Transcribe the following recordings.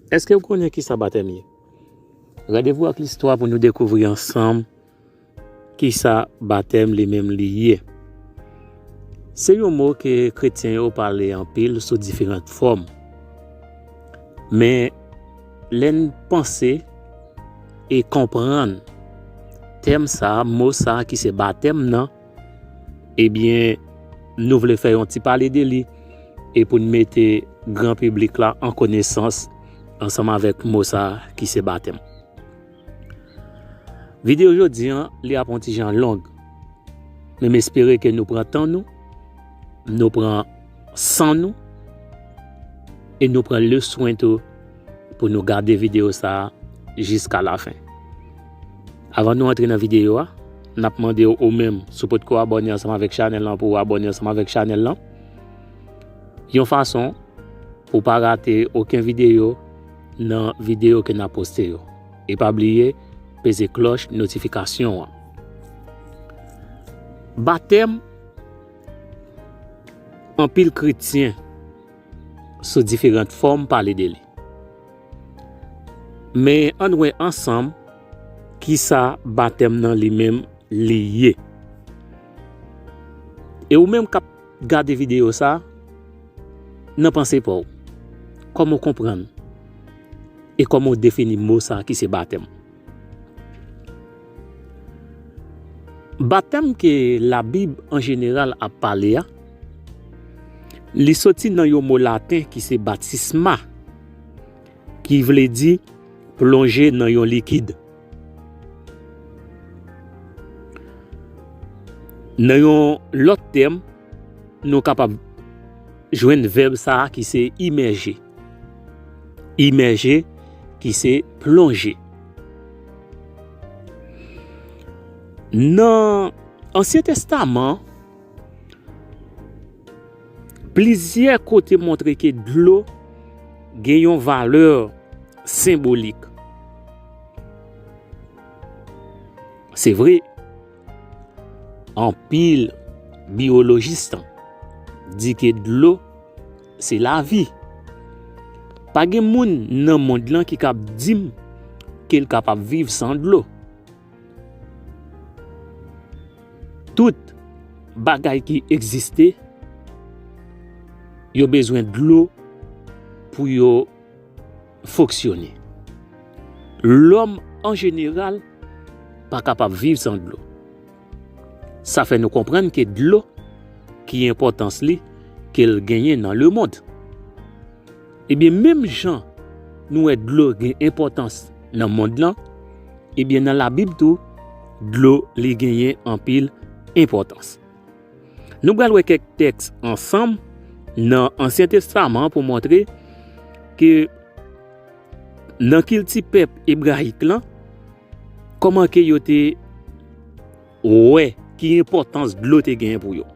Èske ou konnen ki sa batèm ye? Randevou ak listwa pou nou dekouvri ansanm ki sa batèm li menm li ye. Se yon mo ke kretyen yo pale anpil sou diferant fòm. Men, lè n panse e konprann tèm sa, mo sa ki se batèm nan, Ebyen nou vle fè yon ti pale de li e pou n mete gran piblik la an konesans ansanm avèk mo sa ki se batèm. Videyo jodi an li ap yon ti jan long men m espere ke nou pran tan nou, nou pran san nou e nou pran le swen tou pou nou gade videyo sa jiska lafen. Avan nou antre nan videyo a, nap mandew ou menm si w potko abòne ansanm avèk chanèl lan pou w abòne ansanm avèk chanèl lan. Yon fason pou w pa rate oken videyo nan videyo ke nap poste yo. E pa bliye peze klòch notifikasyon an. Batèm, anpil kretyen sou diferant fòm pale de li. Men ann wè ansanm ki sa batèm nan li menm li ye. E ou menm k ap gade videyo sa, nan panse pa w, kòman w konprann e kòman w defini mo sa ki se batèm? Batèm ke labib an jeneral ap pale a, li soti nan yon mo laten ki se baptisma, ki vle di plonje nan yon likid. Nan yon lòt tèm, nou kapab jwenn vèb sa ki se imèje. Imèje ki se plonje. Nan ansyen testaman, plizyè kote montre ke dlo gen yon valè senbolik. Se vre. Anpil biyolojis di ke dlo se lavi. Pa gen moun nan mond lan ki kab dim ke l kapab viv san dlo. Tout bagay ki egziste yo bezwen dlo pou yo. foksyone. Lòm an jeneral pa kapab viv san dlo. Sa fè nou konprann ke dlo ki enpòtans li ke l genyen nan lemond. Ebyen menm jan nou wè dlo gen enpòtans nan mond lan, ebyen nan labib tou dlo li genyen anpil enpòtans. Nou pral wè kèk tèks ansanm nan Ansyen Testaman pou montre ke nan kilti pèp ebrayik lan, kòman ke yo te wè ki enpòtans dlo te gen pou yo.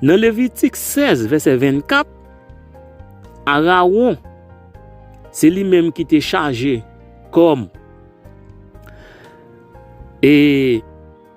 Nan Levitik 16 vèsè 24, Arawon se li menm ki te chaje kòm e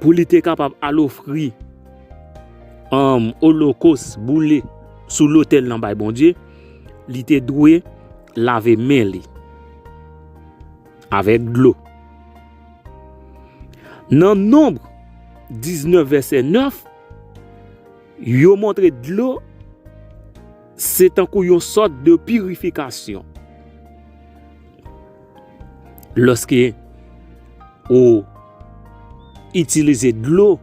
pou li te kapab al ofri um, olokos boule sou lotèl nan bay Bondye, li te dwe lave men li avèk dlo. Nan Nonb 19 vèsè 9, yo montre dlo Se tankou yon sòt de pirifikasyon. Lòske ou itilize dlo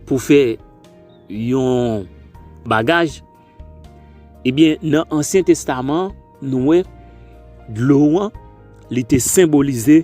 pou fè yon bagaj, ebyen eh nan ansyen testaman nou wè dlo an li te senbolize.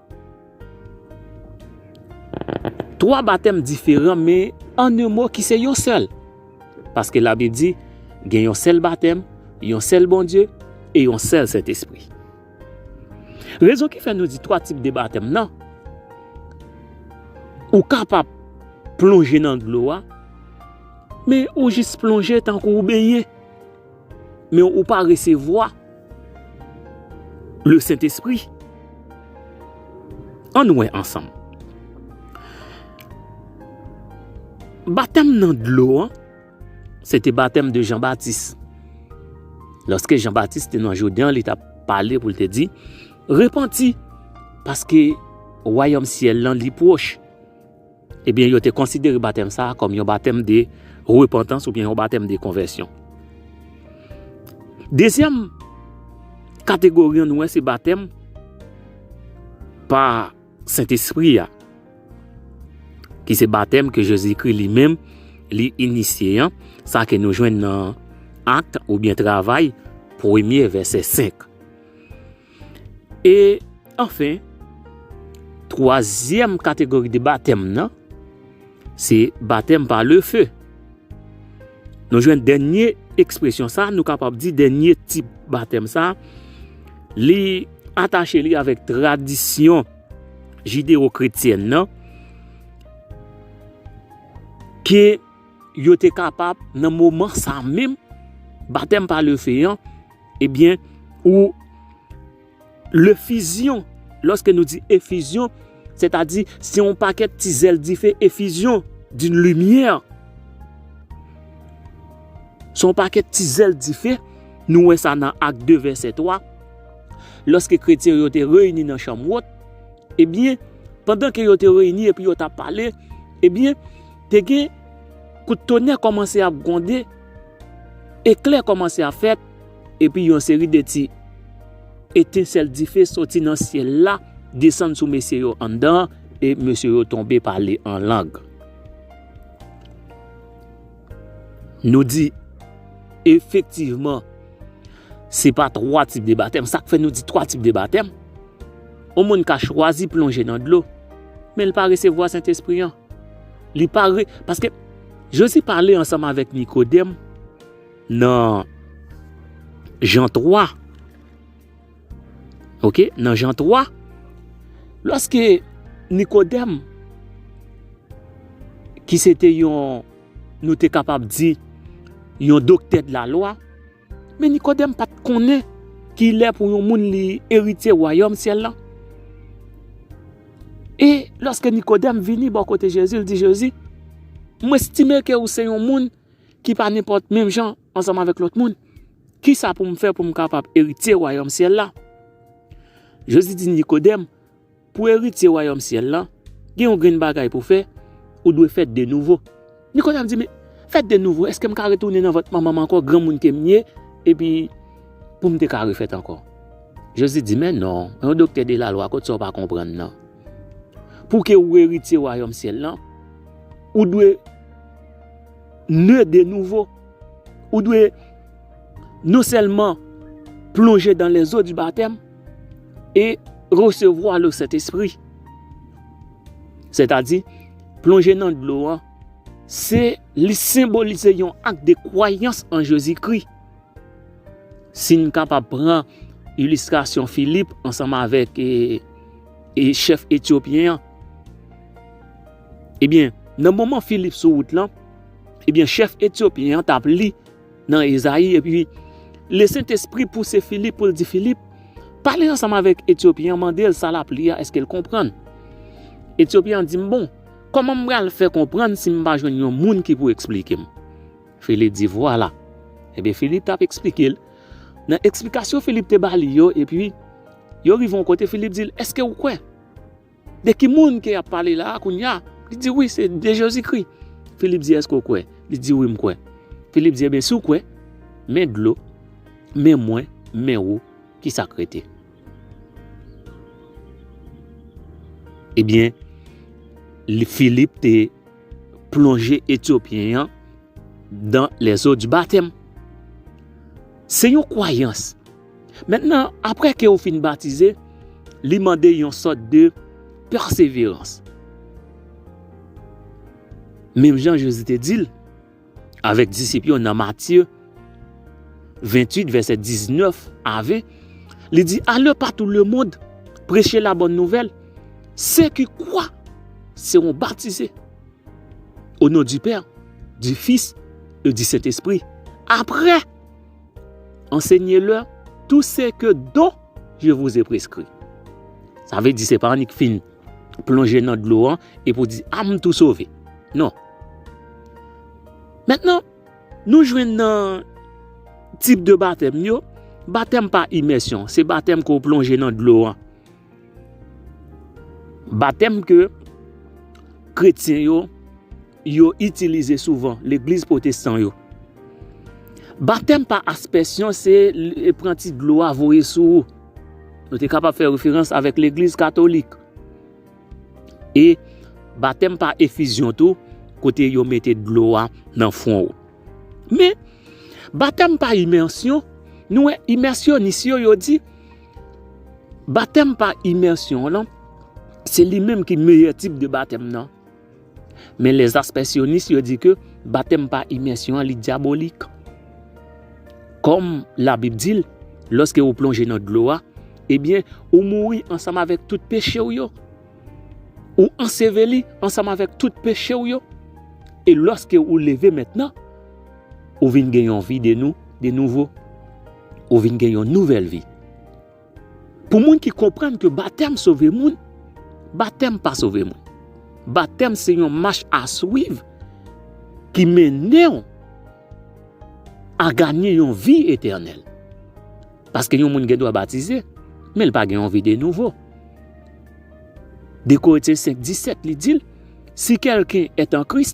Twa batèm diferan men an un mo ki se yon sèl. Paske labib di gen yon sèl batèm, yon sèl Bondye e yon sèl Sentespri. Rezon ki fè nou di twa tip de batèm nan, ou kapab plonje nan dlo a men ou jis plonje tankou ou benyen. Men ou pa resevwa le Sentespri. An nou wè ansanm. Batèm nan dlo an, se te batèm de Jean Baptiste. Lorske Jean Baptiste te nan Jourdain, li ta pale pou li te di, Repenti, paske wayom syel lan li pwoch. Ebyen, yo te konsidere batèm sa a kòm yon batèm de repantans oubyen yon batèm de konvèsyon. Dezyèm kategori an nou wè se batèm pa Sentespri a, ki se batèm ke Jezikri li menm li inisye an, sa ke nou jwenn nan Akte oubyen Travay premye vèsè 5. E anfen, twazyèm kategori de batèm nan, se batèm pa le fe. Nou jwenn dènye ekspresyon sa, nou kapab di dènye tip batèm sa, li atache li avèk tradisyon jideo kretyèn nan, ke yo te kapab nan moman sa menm, batèm pa le fe an, Ebyen, ou lefizyon, lòske nou di efizyon, se ta di, se yon pakèt ti zèl dife efizyon, di yon limyè. Se yon pakèt ti zèl dife, nou wè sa nan ak 2 vèsè 3, lòske kretyen yo te reyini nan chanm wot, ebyen, pandan ke yo te reyini epi yo ta pale, ebyen, te gen kout tonè kòmanse ap gwonde, Eklè kòmanse ap fèt, epi yon seri de ti etensèl dife soti nan syèl la, desann sou mesye yo anndan an, e mesye yo tonbe pale an lang. Nou di, efektivman, se pa twa tip de batèm. Sa k fè nou di twa tip de batèm? Yon moun ka chwazi plonje nan dlo, men li pa resevwa Sentespri an. Li pa re, paske. Jezi pale ansanm avèk Nikodèm nan Jan 3. Ok, nan Jan 3, lòske Nikodèm, ki se te yon, nou te kapab di, yon doktè de la lwa, Men Nikodèm pa t konnen ki lè pou yon moun li eritye wayòm syèl lan. E, lòske Nikodèm vini bò kote Jezi, l di Jezi, M estime ke ou se yon moun ki pa nenpòt menm jan ansanm avèk lòt moun. Ki sa pou m fè pou m kapab eritye wayòm syèl la? Jezi di Nikodèm. Pou eritye wayòm syèl lan, gen yon grenn bagay pou w fè, ou dwe fèt de nouvo. Nikodèm di, Men, fèt de nouvo, èske m ka retounen nan vant manman m ankò, granmoun ke m ye, epi pou m te ka refèt ankò? Jezi di, Men non, yon doktè de lalwa, kot sa w pa konprann nan? Pou ke ou eritye wayòm syèl lan, ou dwe ne de nouvo. Ou dwe non sèlman plonje dan lèzo di batèm, e resevwa le Sentespri. Sètadi, plonje nan dlo an, se li senbolize yon ak de kwayans an Jezikri. Si n kapab pran ilistrasyon Filip ansanm avèk chèf etyopyen an, ebyen, nan moman Filip sou wout lan, ebyen chèf etyopyen an t ap li. Nan Ezayi, epi, le Sentespri pouse Filip pou l di Filip, Pale ansanm avèk Etyopyen an, mande l sa l ap li a, èske l konprann? Etyopyen an di, M bon, kòman m pral fè konprann si m pa jwenn yon moun ki pou eksplike m? Filip di, Vwala. Epi, Filip t ap eksplike l. Nan eksplikasyon Filip te ba li yo, epi, yo rive yon kote, Filip di l, Èske ou kwè? De ki moun ke yap pale la a kounye a? Li di, Wi, se de Jezikri. Filip di, Èske ou kwè? Li di, Wi, m kwè. Filip di, Enben, si ou kwè, men dlo, men mwen, men ou, ki sa k rete? Ebyen, Filip te plonje Etyopyen an dan lèzo di batèm. Se yon kwayans Mentnan, apre ke ou fin batize, li mande yon sòt de pèseverans. Menm jan Jezi te di l, avèk disip yo nan Matye 28 vèsè 19 a 20, li di, Ale patou lemond, preche la bòn nouvèl, se ki kwa seron batize o non di Pè, di Fis e di Sentespri, apre. Ansenyelè tou se ke don je vou ze preskri. Sa ve di se pa annik fin plonje nan dlo an e pou di a m tou sove. Non. Mètnen, nou jwenn nan tip de batèm yo, batèm pa imèsyon, se batèm ke w plonje nan dlo an. Batèm ke kretyen yo, yo itilize souvan, legliz potestan yo. Batèm pa aspèsyon se pran ti dlo a voye sou ou. Nou te kapab fè referans avèk legliz katolik. E batèm pa efizyon tou, kote yo mete dlo a nan fwon ou. Men, batèm pa imèsyon, nou wè imèsyonis yo, yo di, Batèm pa imèsyon an lan, se li menm ki meyè tip de batèm nan. Men lèzaspèsyonis yo di ke batèm pa imèsyon an li dyabolik. Kòm labib di l, lòske ou plonje nan dlo a, ebyen ou mouri ansanm avèk tout peche ou yo. Ou anseveli ansanm avèk tout peche ou yo. E lòske ou leve mentnan, ou vin gen yon vi de nou, de nouvo. Ou vin gen yon nouvèl vi. Pou moun ki konprann ke batèm sove moun, batèm pa sove moun. Batèm se yon mach a swiv ki mennen ou a ganye yon vi etènèl. Paske yon moun gen dwa batize, men l pa gen yon vi de nouvo. De Koretyen 5, 17 li di l, si kèlken et an Kris,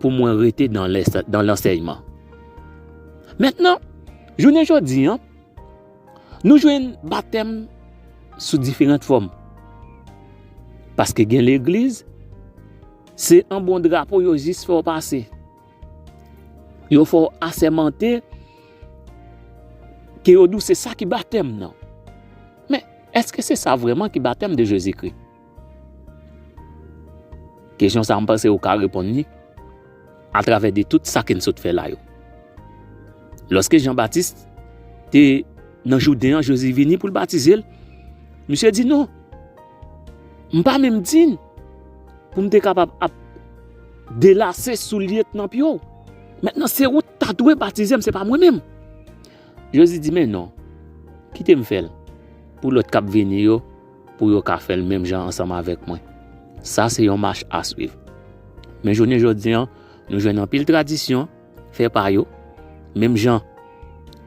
pou mwen rete nan lansèyman. Mentnan, jounen jodi an, nou jwenn batèm sou diferant fòm. Paske gen legliz, se an bon drapo yo jis fè w pase. Yo fè w asèmante, ke yo di w se sa ki batèm nan. Men, eske se sa vreman ki batèm de Jezikri? Kesyon sa a m panse ou ka reponn li atravè de tout sa ke n sot fè la yo. Lòske Jan Batis te nan Jouden an, Jezi vini pou l batize l, misye di non, m pa menm dign pou m te kapab ap delase soulye k nan pye w. Mentnan se ou ta dwe batize m, se pa mwen menm. Jezi di men non, kite m fè l pou lòt k ap vini yo. pou yo ka fèl menm jan ansanm avèk mwen. Sa se yon mach aswiv. Men jounen jodi an, nou jwenn anpil tradisyon fè pa yo, menm jan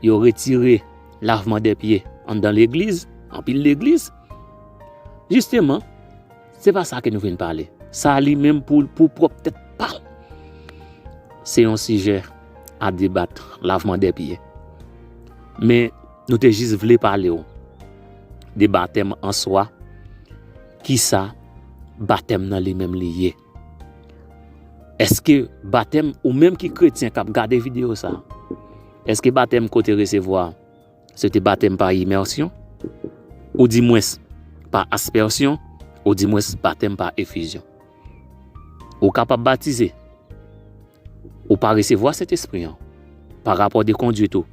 yo retire lavman de pye anndan legliz, anpil legliz. Jisteman, se pa sa ke nou vin pale. Sa li menm pou pou pwòp tèt pa l. Se yon sijè a debat lavman de pye. Men. Nou te jis vle pale w de batèm an swa, kisa batèm nan li menm li ye. Eske batèm ou menm ki kretyen kap gade video sa, eske batèm ke w te resevwa se te batèm pa imèsyon, ou di mwens pa aspèsyon, ou di mwens batèm pa efizyon. Ou kapab batize. Ou pa resevwa Sentespri an. Pa rapò de kondwit ou.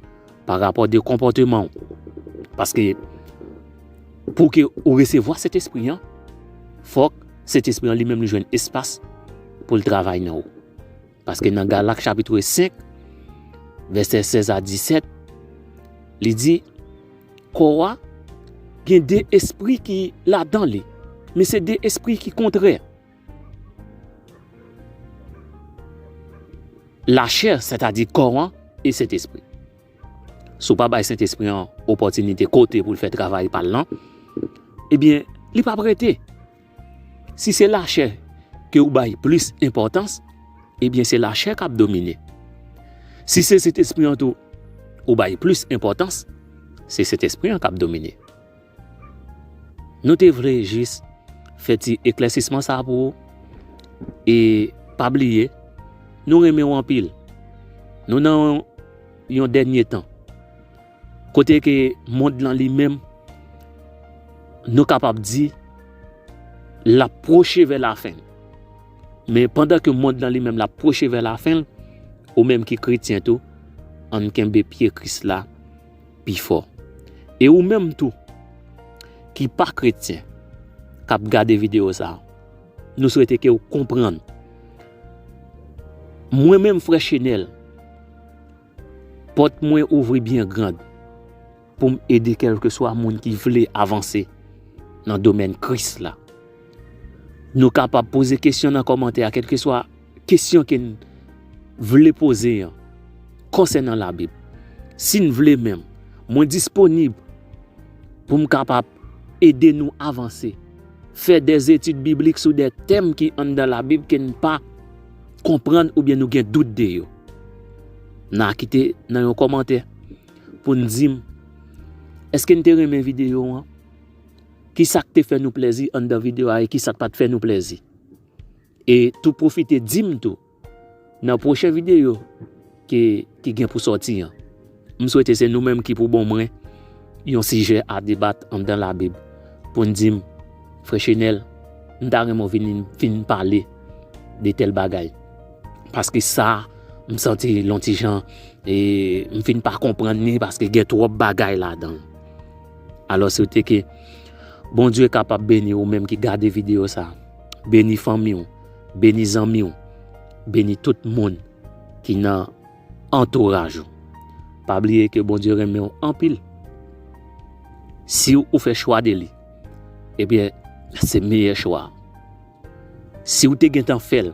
Pa rapò de konpòteman ou. Paske pou ke ou resevwa Sentespri an, fòk Sentespri an li menm li jwenn espas pou l travay nan ou. Paske nan Galak chapitre 5, vèsè 16 a 17, li di, Kò a gen de espri ki ladan li, men se de espri ki kontrè. Lachè, sètadi kò an, e Sentespri. Si w pa bay Sentespri an opòtinite kote pou l fè travay pa l lan, ebyen, li p ap rete. Si se lachè ke ou bay plis enpòtans, ebyen se lachè kap domine. Si se Sentespri an tou ou bay plis enpòtans, se Sentespri an kap domine. Nou te vle jis fè ti eklèsisman sa pou ou, e pa bliye, nou renmen ou anpil. Nou nan yon dènye tan. Kote ke mond lan li menm, nou kapab di, la pwoche vè la fen. Men pandan ke mond lan li menm la pwoche vè la fen, ou menm ki kretyen tou, an kenbe pye Kris la pi fò. E ou menm tou, ki pa kretyen, kap gade video sa, nou swete ke ou konprann. Mwen menm frè Chenel. Pòt mwen ouvri byen grand pou m ede kèlkeswa moun ki vle avanse nan domèn Kris la. Nou kapab poze kesyon nan kòmantè a, kèlkeswa kesyon ke n vle poze an konsènan Labib. Si n vle menm, mwen disponib pou m kapab ede nou avanse, fè dèzetid biblik sou dè tèm ki anndan Labib ke n pa. konprann oubyen nou gen dout de yo. N a kite nan yon kòmantè pou n di m èske n te renmen videyo an, ki sa k te fè nou plezi anndan videyo a e ki sa k pa t fè nou plezi. E tou pwofite di m tou nan pwochen videyo. ke ki gen pou sòti an. M swete se nou menm ki pou bon mwen yon sijè a debat anndan labib pou n di m, Frè Chenel, m ta renmen w vini n fin pale de tèl bagay. Paske sa a, m santi l yon ti jan e m fin pa konprann ni paske gen twòp bagay ladan l. Alò swete ke Bondye kapab beni ou menm ki gade videyo sa a, beni fanmi w, beni zanmi w, beni tout moun. ki nan antouraj ou. Pa bliye ke Bondye renmen ou anpil. Si ou fè chwa de li, ebyen se meyè chwa. Si ou te gen tan fè l.